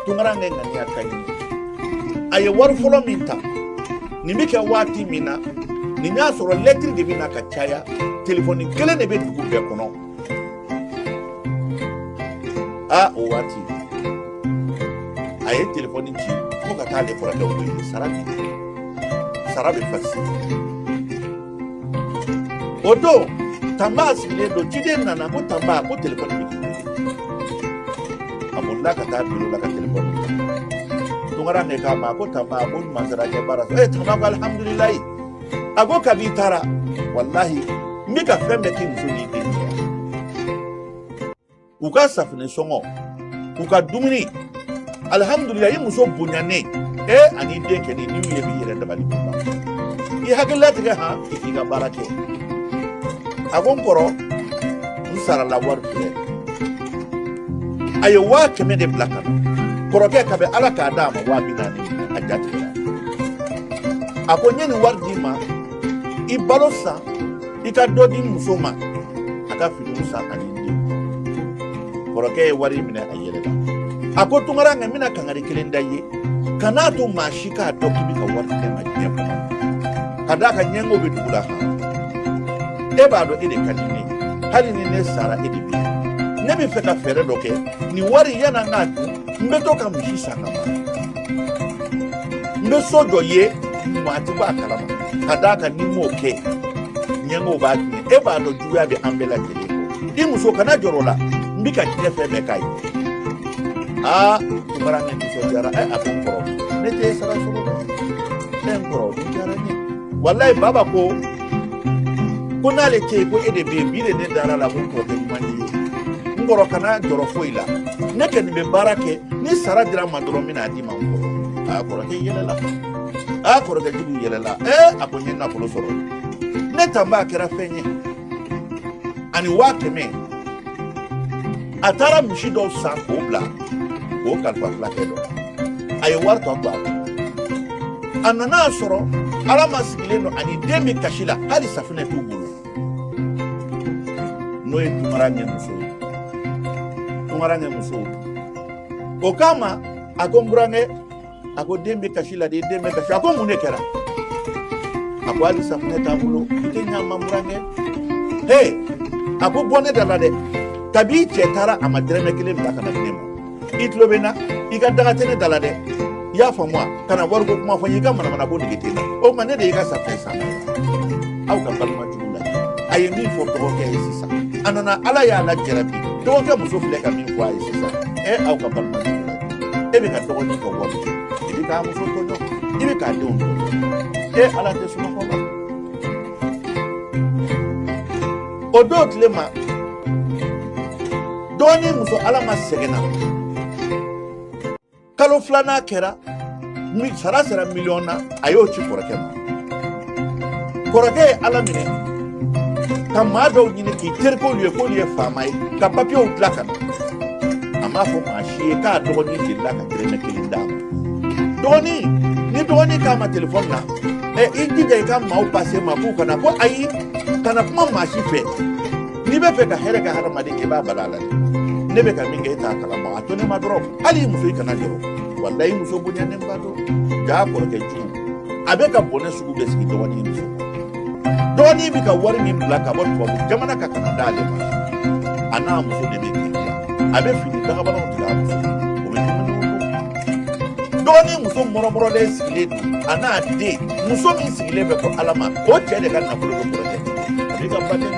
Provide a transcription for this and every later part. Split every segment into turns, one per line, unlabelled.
tunkarankɛ ŋaniya ka ɲi a ye wari fɔlɔ min ta nin bɛ kɛ waati min na nin y'a sɔrɔ lɛtiri de bɛ na ka caya telefɔni kelen de bɛ dugu bɛɛ kɔnɔ a o waati a ye telefɔni ci ko ka taa ale kɔrɔkɛ wele sara di sara bɛ fasi o don tanba sigilen don ciden nana ko tanba ko telefɔni bɛ a bolila ka taa biro la ka telefɔni tunkarankɛ k'a ma ko tanba ko ɲuman sera ka baara sɔrɔ ee tanba ko alihamudulilayi a ko kabi i taara walahi n bɛ ka fɛn bɛɛ k'i muso n'i den u ka safinɛ sɔngɔ u ka dumuni alihamudulila i muso bonyanen e ani den kɛni n'i ye b'i yɛrɛ dabali b'i ban i hakili latigɛ han i k'i ka baara kɛ a ko n kɔrɔ n sarala wari filɛ a ye waa kɛmɛ de bila ka na kɔrɔkɛ ka bɛ ala k'a d'a ma waa bi naani a jatigɛra a ko n ye nin wari d'i ma i balo san i ka dɔ di muso ma a ka finiw san ani den kɔrɔkɛ ye wari minɛ a yɛlɛla a ko tunkarankɛ n bɛna kangari kelen da i ye kan'a to maa si k'a dɔn k'i bɛ ka wari ci n ma diɲɛ kɔnɔ ka d'a kan ɲɛngo bɛ dugu la han e b'a dɔn e de ka di ne ye hali ni ne sara e de bɛ ne b'a fɛ ka fɛɛrɛ dɔ kɛ nin wari yanni an k'a dun n bɛ to ka misi san ka mara n bɛ so jɔ i ye maa tɛ bɔ a kalama ka d'a kan ni n m'o kɛ ɲɛngow b'a tiɲɛ e b'a dɔn juguya bɛ an bɛɛ lajɛlen i muso kana jɔrɔ la n bɛ ka diɲɛ fɛn bɛɛ k'a ye aa tunkarankɛ nisɔndiyara ɛ a ko n kɔrɔ ne t'e sara sɔrɔ dɛ n kɔrɔ nin diyara n ye walayi baba ko ko n'ale tɛ yen ko e de bɛ yen bi de ne dara a la ko n kɔrɔkɛ ɲuman de ye n kɔrɔ kana jɔrɔ foyi la ne kɔni bɛ baara kɛ ni sara dira n ma dɔrɔn n bɛna a d'i ma n kɔrɔ a kɔrɔkɛ yɛlɛla a kɔrɔkɛ jugu yɛlɛla ee a ko n ye nafolo sɔrɔ ne tanba kɛra fɛn ye ani waa kɛmɛ a taara misi dɔw san k'o bila k'o kalifa fulakɛ dɔ a ye wari tɔ to a kun a nana a sɔrɔ alama sigilen don ani den bɛ kasi la hali safinɛ t'u bolo n'o ye tunkarankɛ muso ye tunkarankɛ muso o k'a ma a ko n burankɛ a ko den bɛ kasi la de den bɛ kasi a ko mun de kɛra a ko hali safunɛ t'a bolo i tɛ ɲa n ma burankɛ he a ko bɔ ne da la dɛ kabi i cɛ taara a ma dɛrɛmɛ kelen bila ka na di ne ma i tulo bɛ n na i ka daga tɛ ne da la dɛ i y'a faamu wa kana wariko kuma fɔ n ye i ka manamana ko nege tɛ n na o tuma ne de y'i ka safunɛ san aw ka balima jugu la a ye min fɔ dɔgɔkɛ ye sisan a nana ala y'a lajarabi dɔgɔkɛ muso filɛ ka min fɔ a ye sisan ɛ aw ka balima jugu e bɛ ka dɔgɔnin ka wari i bɛ k'a muso tɔɲɔ i bɛ k'a denw tɔɲɔ e ala tɛ sunɔgɔ ma o don tile ma dɔgɔnin muso alama sɛgɛnna kalo filanan kɛra min sara sera miliyɔn na a y'o ci kɔrɔkɛ ma kɔrɔkɛ ye a laminɛ ka maa dɔw ɲini k'i terikɛw ye k'olu ye faama ye ka papiyew dilan ka na a m'a fɔ maa si ye k'a dɔgɔnin delila ka dɛrɛmɛ kelen d'a ma dɔgɔnin ni dɔgɔnin k'a ma telefɔni na ɛ i jija i ka maaw pase n ma k'u kana ko ayi kana kuma maa si fɛ n'i bɛ fɛ ka hɛrɛ kɛ hadamaden kɛ i b'a bala la ne bɛ ka min kɛ e t'a kalama a to ne ma dɔrɔn hali i muso i kana jɔrɔ walayi muso bonyanenba don jaa kɔrɔkɛ jugu a bɛ ka bɔnɛ sugu bɛɛ sigi dɔgɔnin muso dɔgɔnin bɛ ka wari min bila ka bɔ tubabu jamana kan ka na d'ale ma a n'a muso de bɛ kiri la a bɛ fini dakabanaw tigɛ a muso o bɛ dumuni dɔgɔnin muso mɔrɔmɔrɔlen sigilen don a n'a den muso min sigilen bɛ ko alama o cɛ de ka nafolo bɛ kɔrɔkɛ a b'i ka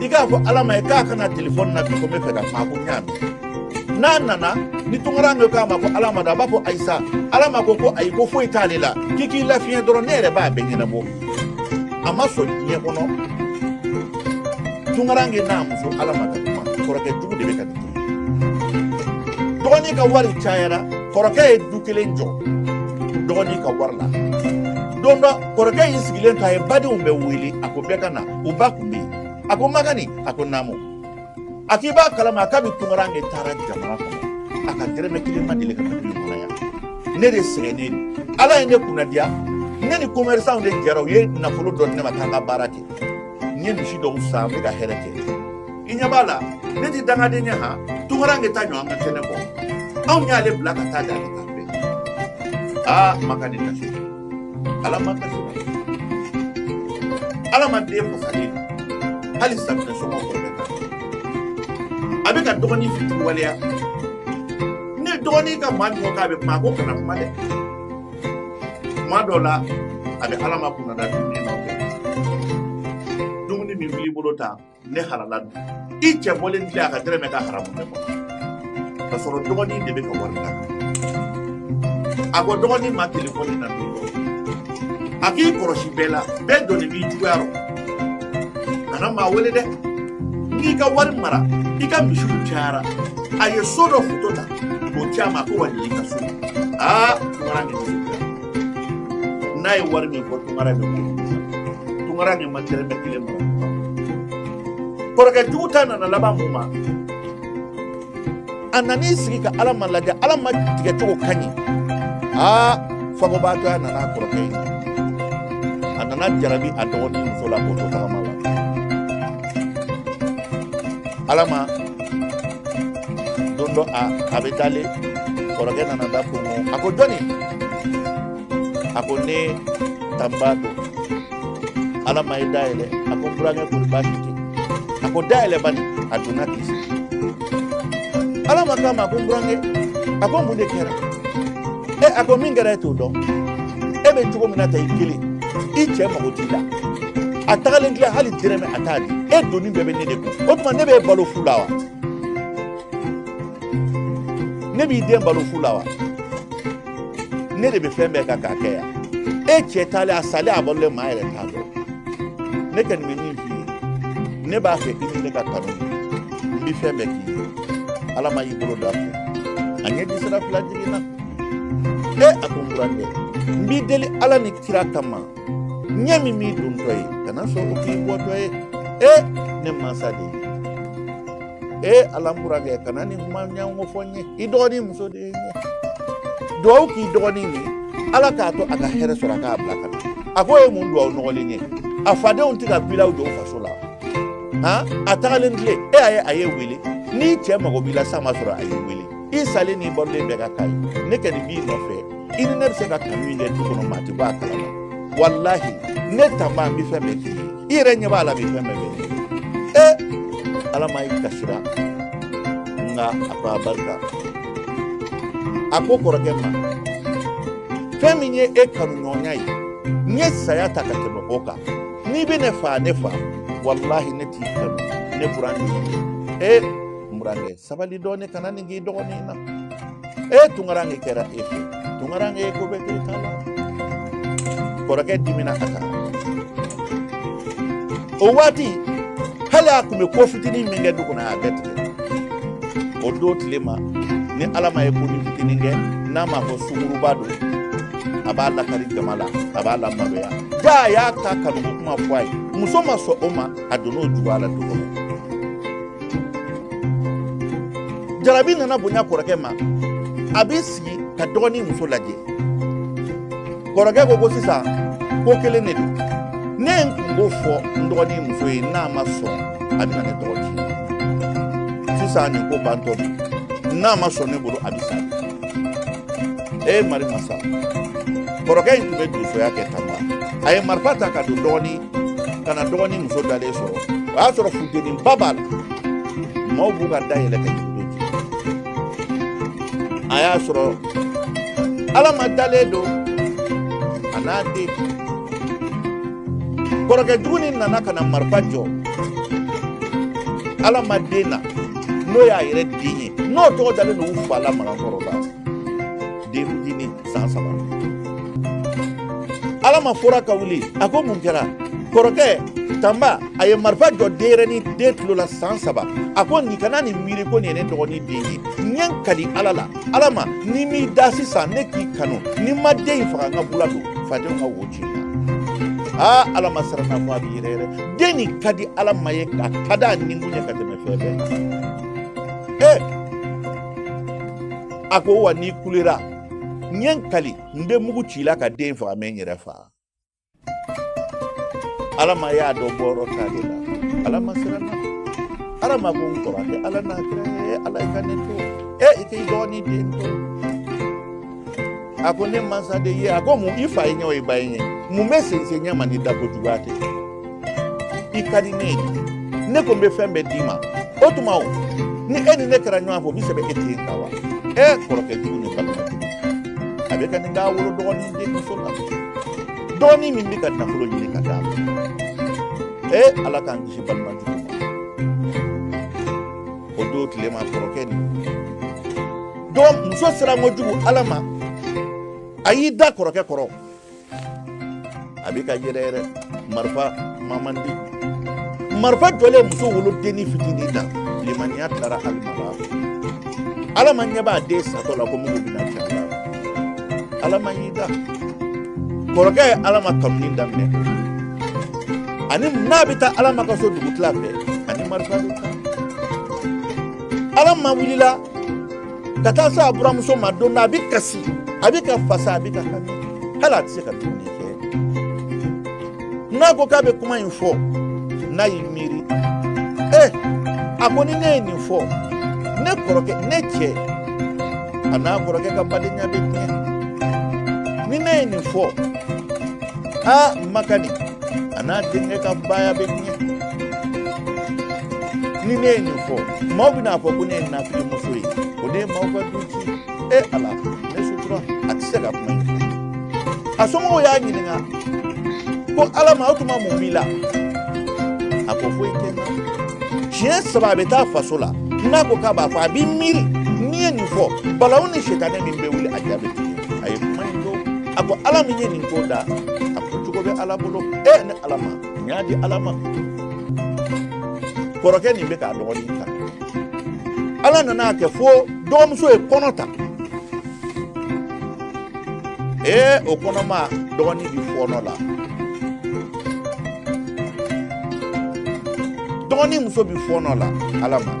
i k'a fɔ alama ye k'a ka na telefɔni na bi ko n bɛ fɛ ka kuma ko n y'a mɛn n'a nana ni tunkaranke k'a ma ko alama da a b'a fɔ ayi sa alama ko ko ayi ko foyi t'ale la k'i k'i lafiɲɛ dɔrɔn ne yɛrɛ b'a bɛɛ ɲɛnabɔ a ma sɔn diɲɛ kɔnɔ tunkaranke n'a muso alama ka kuma kɔrɔkɛ jugu de bɛ ka nin dɔgɔnin ka wari cayara kɔrɔkɛ ye du kelen jɔ dɔgɔnin ka wari la don dɔ kɔrɔkɛ y'i sigilen to a ye badenw bɛɛ wele a ko bɛɛ ka na u ba kun bɛ yen a ko magani a ko naamu a k'i b'a kalama a kabi tunkaranke taara jamana kɔnɔ a ka dɛrɛmɛ kelen ma deli ka na du kɔnɔ yan ne de sɛgɛnnen don ala ye ne kunnadiya ne ni commerçant de jɛra u ye nafolo dɔ di ne ma k'an ka baara kɛ n ye misi dɔw san n bɛ ka hɛrɛ kɛ i ɲɛ b'a la ne tɛ dangaden ye han tunkaranke ta ɲɔgɔn ka kɛnɛ bɔ anw y'ale bila ka taa d'ale ta fɛ aa magani kasi alama kasi alama den fasalen hali safunɛ sɔngɔ kɔrɔkɛ ta a bɛ ka dɔgɔnin fitiriwaleya ni dɔgɔnin ka maa min ko k'a bɛ kuma a ko kana kuma dɛ tuma dɔ la a bɛ alama kunnada dumuni na dumuni min b'i bolo ta ne halala don i cɛ bɔlen tile a ka dɛrɛmɛ ka haramu bɛɛ kɔnɔ ka sɔrɔ dɔgɔnin de bɛ ka wari la a ko dɔgɔnin ma telefɔni na don dɔ a k'i kɔlɔsi bɛɛ la bɛɛ donnen b'i juguya rɔ kana maa wele dɛ n y'i ka wari mara i ka misiw cayara a ye so dɔ foto ta k'o ci a ma ko wa nin y'i ka so aa kibaruya nin n'a ye wari min fɔ tunkaranke bɛ tunkaranke ma dɛrɛmɛ kelen bɔ kɔrɔkɛ jugu ta nana laban mun ma a nan'i sigi ka alama lajɛ alama tigɛ cogo ka ɲi aa fagobaatɔya nana kɔrɔkɛ in a nana jarabi a dɔgɔnin muso la k'o to tagama la alama don dɔ a bɛ dalen kɔrɔkɛ nana da kɔnkɔn a ko jɔni a ko ne tanba don alama ye da yɛlɛ a ko n burankɛ kori baasi tɛ a ko da yɛlɛ bani a donna k'i sigi alama k'a ma a ko n burankɛ a ko mun de kɛra e a ko min kɛra e t'o dɔn e bɛ cogo min na tan i kelen i cɛ mago t'i la a tagalen tile hali dɛrɛmɛ a t'a di e donni bɛɛ bɛ ne de kun o tuma ne bɛ balo fu la wa ne b'i den balo fu la wa ne de bɛ fɛn bɛɛ kan k'a kɛ yan e cɛ taalen a salen a balolen maa yɛrɛ t'a dɔn ne kɔni bɛ min f'i ye ne b'a fɛ i ni ne ka kanu n bɛ fɛn bɛɛ k'i ye alama y'i bolo don a fɛ a ɲɛji sira fila jiginna e a ko n burankɛ n b'i deli ala ni kira kama ɲɛ min m'i dontɔ ye kana sɔn o k'i bɔtɔ ye e ne mansa de ye e ala n burankɛ kana nin kuma ɲɔgɔn fɔ n ye i dɔgɔnin muso de ye n ye duwawu k'i dɔgɔnin ye ala k'a to a ka hɛrɛ sɔrɔ a k'a bila ka na a k'o ye mun duwawu nɔgɔlen ye a fadenw tɛ ka bilaw jɔ faso la han a tagalen tile e y'a ye a y'e wele n'i cɛ mago b'i la s'a ma sɔrɔ a y'e wele i salen n'i balolen bɛɛ ka kan a ye ne kɔni b'i nɔfɛ i ni ne bɛ se ka kanu in kɛ du kɔnɔ maa tɛ bɔ a kalama walahi ne tanba n bɛ fɛn bɛɛ k'i ye i yɛrɛ ɲɛ b'a la bi fɛn bɛɛ bɛ ne e alama i kasira nka a ko a barika a ko kɔrɔkɛ ma fɛn min ye e kanuɲɔgɔnya ye n ye saya ta ka tɛmɛ o kan n'i bɛ ne faa ne faa walahi ne t'i kanu ne buran de ye e n buran de ye sabali dɔɔnin kana nin k'i dɔgɔnin na e tunkaranke kɛra e fɛ tunkaranke ye ko bɛɛ k'e ta la kɔrɔkɛ dimina a kan o waati hali a tun bɛ ko fitinin min kɛ du kɔnɔ a y'a bɛɛ tigɛ o don tilema ni alama ye ko ni fitinin kɛ n'a m'a fɔ sunguruba don a b'a lakari jama la a b'a lamaloya jaa a y'a ta kanuko kuma fɔ a ye muso ma sɔn o ma a donn'o juguya la du kɔnɔ jarabi nana bonya kɔrɔkɛ ma a b'i sigi ka dɔgɔnin muso lajɛ kɔrɔkɛ ko ko sisan ko kelen de don ne ye n kun b'o fɔ n dɔgɔnin muso ye n'a ma sɔn a bɛna ne tɔgɔ tiɲɛ sisan nin ko bantɔ bi n'a ma sɔn ne bolo a bɛ sa e mari masa kɔrɔkɛ in tun bɛ donsoya kɛ tanba a ye marifa ta ka don ka na dɔgɔnin muso dalen sɔrɔ o y'a sɔrɔ funteniba b'a la maaw b'u ka da yɛlɛ ka jigin don a y'a sɔrɔ alama dalen don a n'a den kɔrɔkɛ jugu nin nana ka na marifa jɔ alama den na n'o y'a yɛrɛ den ye n'o tɔgɔ dalen don u fa la magan kɔrɔ la den fitinin san saba alama fɔra ka wuli a ko mun kɛra kɔrɔkɛ tanba a ye marifa jɔ denyɛrɛni den tulo la san saba a ko nin kana nin miiri ko nin ye ne dɔgɔnin den ye n ye n kali ala la alama n'i m'i da sisan ne k'i kanu ni n ma den in faga n ka bula don fadenw ka wo ci aa alama siranna fɔ a bɛ yɛrɛyɛrɛ den nin ka di alama ye a ka di a ni kun ye ka tɛmɛ fɛn bɛɛ kan ee a ko wa n'i kulera n ye n kali n bɛ mugu ci i la ka den faga n bɛ n yɛrɛ faga alama y'a dɔn bɔyɔrɔ t'ale la alama siranna alama ko n kɔrɔkɛ ala n'a kira ye ala i ka ne to e i k'i dɔgɔnin den to a ko ne mansa de ye a ko mun i fa ye ɲɛ o i ba ye ɲɛ mun bɛ sensen ɲɛ ma ni dako juguya tɛ i ka di ne ye ne ko n bɛ fɛn bɛɛ d'i ma o tuma o ni e ni ne kɛra ɲɔgɔn fɛ o bɛ sɛbɛn e ten kan wa ɛ kɔrɔkɛ jugu ni balima jugu a bɛ ka nin k'a wolo dɔgɔnin den muso la dɔgɔnin min bɛ ka nafolo ɲini ka d'a ma ɛ ala k'an kisi balima jugu ma o don tilema kɔrɔkɛ ni dɔgɔ muso siran kojugu alama a y'i da kɔrɔkɛ kɔrɔ a bɛ ka yɛrɛyɛrɛ marifa man di marifa jɔlen muso wolodennin fitinin na limaniya taara alama la alama ɲɛ b'a den satɔ la ko mugu bɛna ci a la alama y'i da kɔrɔkɛ ye alama kanuni daminɛ ani n'a bɛ taa alama ka so dugutila fɛ ani marifa bɛ taa alama wulila ka taa se a buramuso ma don na a bɛ kasi a bɛ ka fasa a bɛ ka hami hali a tɛ se ka dumuni kɛ n'a ko k'a bɛ kuma in fɔ n'a y'i miiri ɛ eh, a ko ni ne ye nin fɔ ne kɔrɔkɛ ne cɛ a n'a kɔrɔkɛ ka badenya bɛ tiɲɛ ni ne ye nin fɔ aa makadi a n'a denkɛ ka baaya bɛ tiɲɛ ni ne ye nin fɔ maaw bɛna fɔ ko ne ye nafigi muso ye o de ye maaw ka du ci e ala ne sutura a tɛ se ka kuma in fɔ a somɔgɔw y'a ɲininka ko alama o tuma mun b'i la a ko foyi tɛ n na siɲɛ saba a bɛ taa faso la n'a ko k'a b'a fɔ a b'i miiri n'i ye nin fɔ balawu ni sitanɛ min bɛ wuli a da bɛ tugu a ye kuma in dɔn a ko ala min ye nin ko da a ko cogo bɛ ala bolo e ne alama y'a di ala ma kɔrɔkɛ nin bɛ k'a dɔgɔnin ta ala nan'a kɛ fo dɔgɔmuso ye kɔnɔ ta ee o kɔnɔma dɔgɔnin bɛ fɔɔnɔ la dɔgɔnin muso bɛ fɔɔnɔ la alama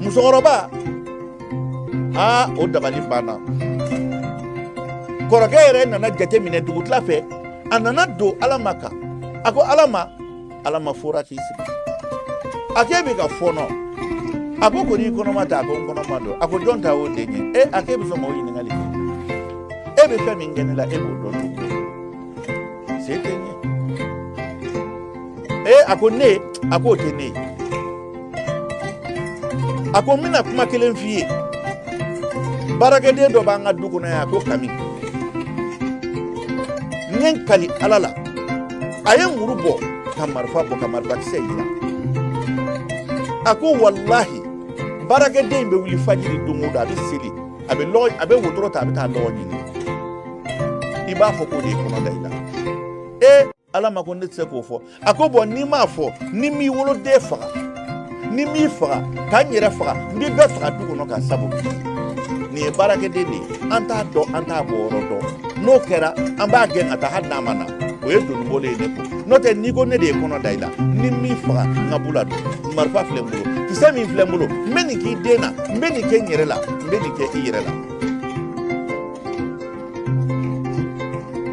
musokɔrɔba aa o dabali banna kɔrɔkɛ yɛrɛ nana jateminɛ dugutila fɛ a nana don alama kan a ko alama alama forila k'i sigi a k'e bɛ ka fɔɔnɔ a ko kɔni kɔnɔma tɛ a ko n kɔnɔma don a ko jɔn ta o den ye e a k'e bɛ se k'o ɲininkali kɛ e bɛ fɛn min kɛ ne la e b'o dɔn cogo se tɛ n ye ee a ko ne a k'o tɛ ne ye a ko n bɛna kuma kelen f'i ye baarakɛden dɔ b'an ka du kɔnɔ yan a ko kami n ye n kali ala la a ye muru bɔ ka marifa bɔ ka marifakisɛ yira a ko walahi baarakɛden in bɛ wuli fajiri don o don a bɛ seli a bɛ wotoro ta a bɛ taa lɔgɔ ɲini i b'a fɔ k'o de ye kɔnɔ da i la ee ala ma ko ne tɛ se k'o fɔ a ko bɔn n'i m'a fɔ ni m'i woloden faga ni m'i faga ka n yɛrɛ faga n bɛ bɛɛ faga du kɔnɔ ka sabu nin ye baarakɛden de ye an t'a dɔn an t'a bɔyɔrɔ dɔn n'o kɛra an b'a gɛn ka taa hali n'a ma na o ye doni bɔlen ye ne ko n'o tɛ n'i ko ne de ye kɔnɔ da i la ni m'i faga n ka bula don marifa filɛ n bolo kisɛ min filɛ n bolo n bɛ nin k'i den na n bɛ nin kɛ n yɛrɛ la n bɛ nin kɛ i yɛrɛ la